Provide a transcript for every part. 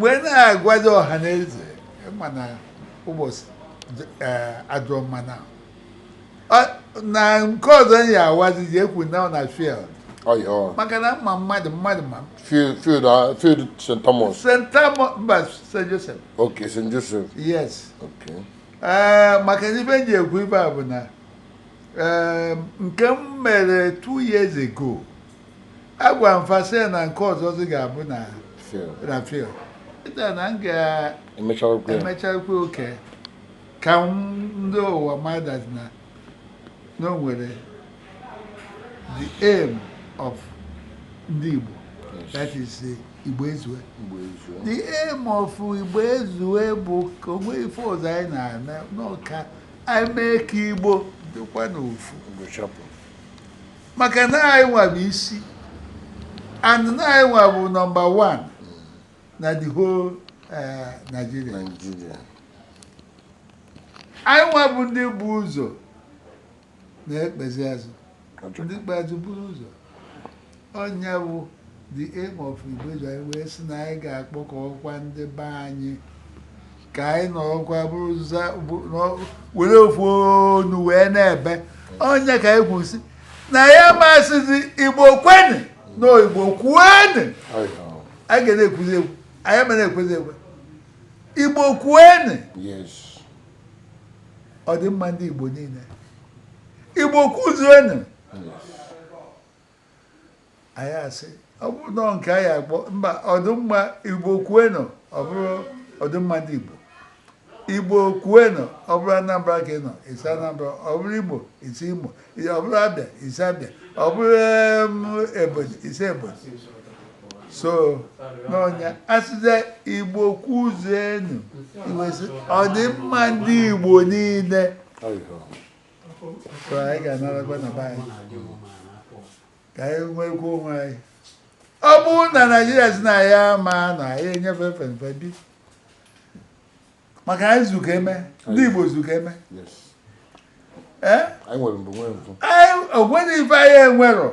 wee na-agwazi ọha na eze ma na ụbọchị adịrọ mma na nke ọzọ ya awazi ji ekwu na ọ na field maka na mma mmadụ mmadụ ma field st thomas st thomas mba st joseph ok st joseph yes ok maka na ife ji ekwu ife a bụ na nke m mere two years ago agwa m fa sị na nke ọzọzi ga-abụ na field, na field ịta na m emecha okwu ya. ga-emechakwa oke ka m- ndị ụwa matazịa na o nwere the aim of ndị igbo Yes. that is eh, igbo ezue Igbo ezu. the aim of igbo ezue bụ ka o nwee ife ọzọ anyị na-eme n'ọka anyị mee ka igbo dịkwa n'ofu Igbo chapụ. maka na anyị nwa bụ isi and na anyị nwa bụ nọmba 1 na the whole eh, Nigeria Nigeria anyị nwa bụ ndị bu ụzọ na-ekpezi azụ ndị ikpeazụ buru ụzọ ọ nya bụ the aim of Igbo ezue anyị wee sị na anyị ga-akpọkọkwa ndị be anyị ka anyị nọrọkwa were ofu onu wee na-ebe ọ nya ka anyị kwu sị na anyị ma sịzi igbo kwenụ na igbo kwuenụ a ga na-ekwuzi ekwu anyị ma na-ekwezi ekwe igbo kwuenụ ọdịmma ndị igbo niile igbo kwuzienụ anyị asị ọ bụrụ na nke anyị akpọ mba ọdịmma igbo kwuenụ ọ bụrụ ọdịmma ndị igbo igbo kwuenụ ọ bụrụ anambra ka ị nọ ị sị anambra ọ bụrụ imo ị sị imo ọ bụrụ abịa ị sị abịa ọ bụrụ ebonyi ị sị ebonyi so onye asịzie igbo kwuzuenu ọdịmma ndị igbo niile so anyị ga-anọrọkwa na be anyị ka anyị nwekwuo onwe anyị ọ bụrụ na naijiria sị na ya ma na ya enyefe fenfe bi maka anyị zu ka eme ndị igbo zu ka eme ee o nwerọ ife anyị enwerọ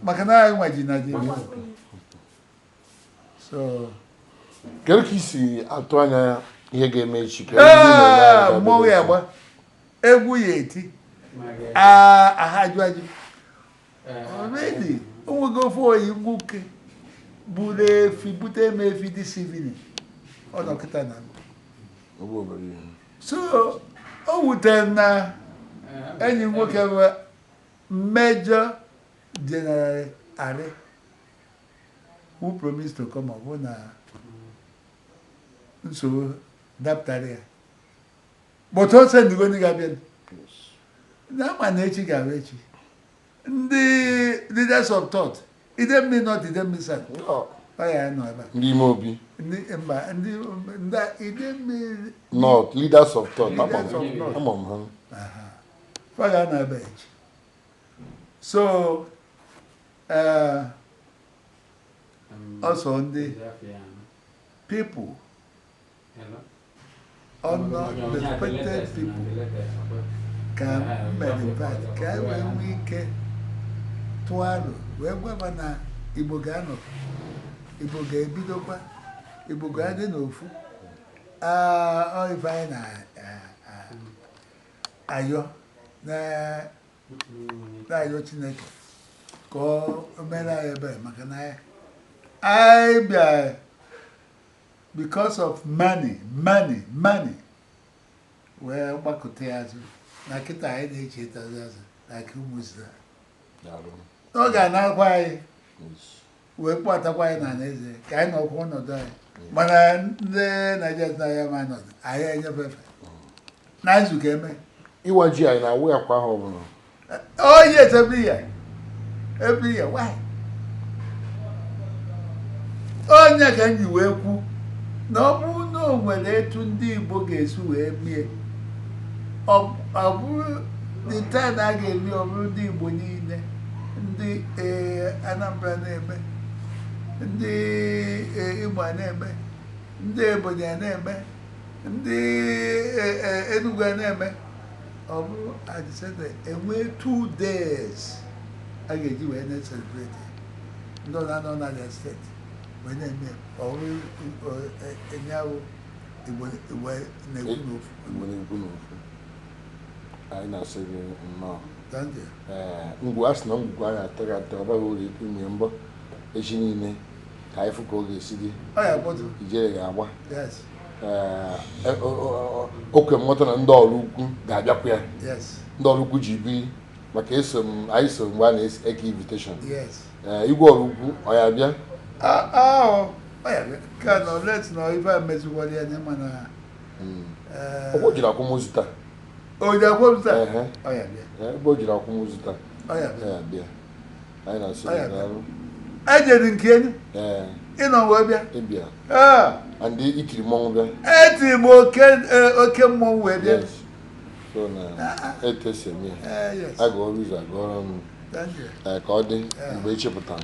maka na anyị nwa ji naijiria kedu ka i si atụ anya ihe ga-eme echi mmọnwụ ya gba egwu ya eti aha ajụ ajụ already o nwego ofu enyi nwoke buru efi bute m efi this evening ọ nọ kịta na so o wutere na enyi nwoke bụ major general arị Who promised to come ọ bụrụ na nsogbu dapụtara ya but also ndị Igbo ndị ga-abịa na ama na echi ga-abụ echi ndị leaders of thought Idemili North Idemili South ya-anọ ebe a ndị ime obi ndị mba ndị ndị Idemili North leaders of thought ama Leaders of m thought. ama m ha Aha. fa ga-anọ ebe a echi so Ee, ọ sọ ndị people ọnọ respected people ka m mere invite ka e wee nwee ike tụọ aro wee gwaba na Igbo ga-anọ Igbo ga-ebidokwa Igbo ga-adị n'ofu ọ ife anyị na-ayọ na na-ayọ chineke ka o mere anyị ebere maka na anyị bịa because of money money money wee gbakụta ya azụ na kịta anyị na-echetazi azụ na ka ụmụ Izrel ọ ga-anakwa anyị wee kpọtakwa anyị na eze ka anyị nọkwa ọnọdụ anyị mana ndị naijiria na ya ama ọnọdụ anyị enyefe efe na izu ụka e me ịwa ji anyị na-awa ya kwa ahọ ọbụla oh yes every year every year why ọ ya ka m ji wee kwu na ọ bụrụ na o nwere etu ndị igbo ga-esi wee mie ọ bụrụ the time a ga-eme ọ bụrụ ndị igbo niile ndị eh, Anambra na-eme ndị eh, Imo a na-eme ndị Ebonyi a na-eme ndị eh, eh, Enugu a na-eme ọ bụrụ a decide e nwee two days a ga-eji wee na-ecelebrate ndị ọ na-anọ na the state wee na-eme ọ bụrụ eh, eh, enye ahụ Igbo Igbo na-ekwu n'ofu Igbo na-ekwu n'ofu. anyị na-asị gị nnọọ Thank you. ee ngwu a sị na ngwugwu a ya-atọghe atọ ọ baghị uru ịtụnye mbọ echi dị ime ka anyị fụ ka ọ ga-esi dị Ọ ya-akpọtụ. ijele ga-agba Yes. ee e- o- o- o- okwe mmụta na ndị Oraukwu ga-abịakwa ya Yes. ndị Oraukwu ji biri maka eso m anyị so mgbe a na-eke invitation Yes. ee igwe Oraukwu ọ ya-abịa Ah, ah, ọ ya ka nọ let nọ ife a meziwara ya na ịma na o jiri akwụmụzi taa o jiri akwụmụzi taa ebe o jiri akwụmụzi taa bịa anyị na-asị ejedi nke enyi ịnọ wee bịa ịbịa and i tiri mmọnwụ bịa e tiri m oke e, oke mmọnwụ wee bịa so na ah, ah. etu e si eme ya eh, aga ọrụ ụzọ aga ọrụ ụnọ eh, ka ọ dị mgbe e chepụtara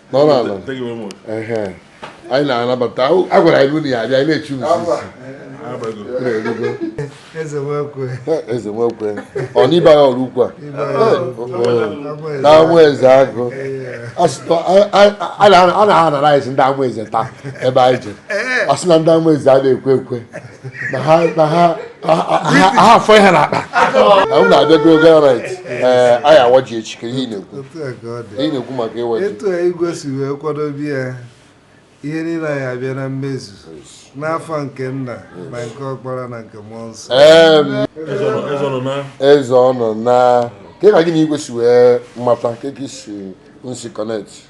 anyị na-anabata a gwara anyị unu ya abịa anyị na-echu eze nwekwe ọ n'ibe agha ọrụ ukwu a na Amaeze agụ a na-anara anyị ndị Amaeze taa ebe anyị je ọ sị na ndị Amaeze a na-ekwe ekwe na ha na ha ha afọ ihe na akpa m na-abịago garit ee anyị awa ji echi ka ihe ị na-ekwu ihe na-ekwu maka ịwa ji etu igwe si wee kwadobe ya ihe niile anyị abịa na mmezu n'afa nke nna na nke ọkpara na nke mmụọ nsọ eze ọnụ na kee ka gị na igwe si wee mata ka ị si nsi connect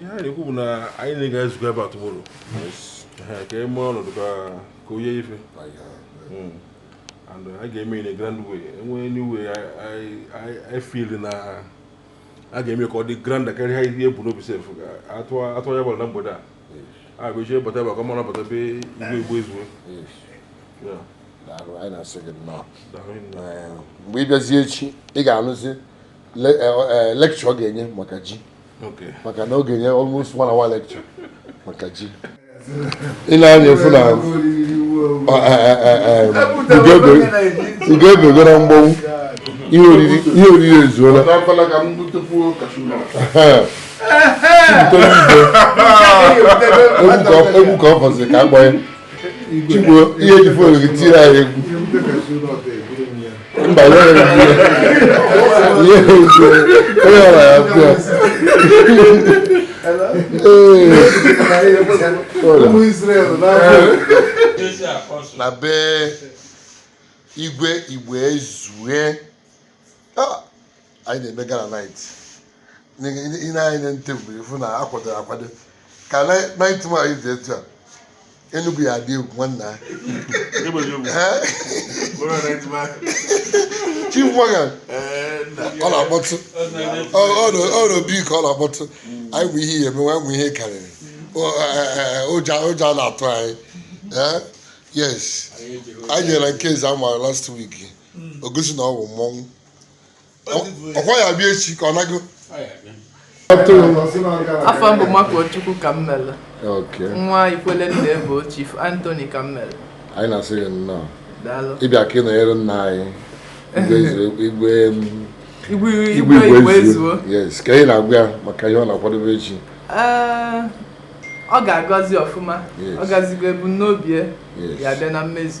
ihe a na-ekwu bụ na anyị na-aga ezukọ ebe a tomorrow ka e mee ọnọdụ ka onye ife hmm. and a ga-eme in a grand way e nwee new way I feel na a ga-eme ka ọ dị grand karịa ihe e bu n'obi sef atụ ya gbara na mgbede a a bụ eji bata ebe a ka ọ mara bata be igwe Igboezue anyị na-asị gị nnọọ mgbe ị bịazie echi ị ga-anụzi lecture ọ ga-enye maka ji maka na ọ ga-enye almost one hour lecture maka ji i nee anya ị fụ na ugo na mgbanwu ihe oriri ezuola egwu ka ọ fọzi ka a gbanye Chigbo i ji phone gị tiri anyị egwu mba ya egwu ya egwu onye ọra ya bịa na be igwe Igboezue anyị na-eme gala night i nee anya na table ị fụ na a kwadoro akwado ka night ma anyị dị etu a Enugu ya adị egwu nwanna Chief Morgan ọ na-akpọtụ ọ n'obi ka ọ na-akpọtụ anyị bụ ihe ya emewe anyị bụ ihe karịrị ụjọ ụjọ a na-atụ anyị yes anyị jere nke Eziama last week o gosi na ọ bụ mmọnwụ ọkwa ya bịa echi ka ọ nago afa m bụ Makuochukwu Kammelu nwa Ikwele Nnaebue Chief Anthony Kammelu anyị na-asị gị nnọọ ịbịa ka ị nọnyere nna anyị igwe igwe Igboezue yes kee ihe ị na-agwa ya maka ihe ọ na-akwadobe echi eh, ọ ga-agazi ọfụma ọ gazigo ebumnobi ya bịa na mmezu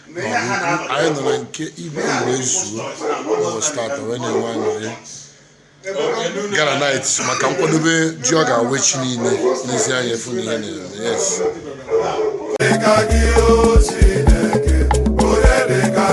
anyị nọ na nke igwe wee zuo ụbọchị tata wee na-enwe aṅụrị gala night maka nkwadobe ji ọ ga-awa echi niile n'ezi anya afụ na ihe na-eme yes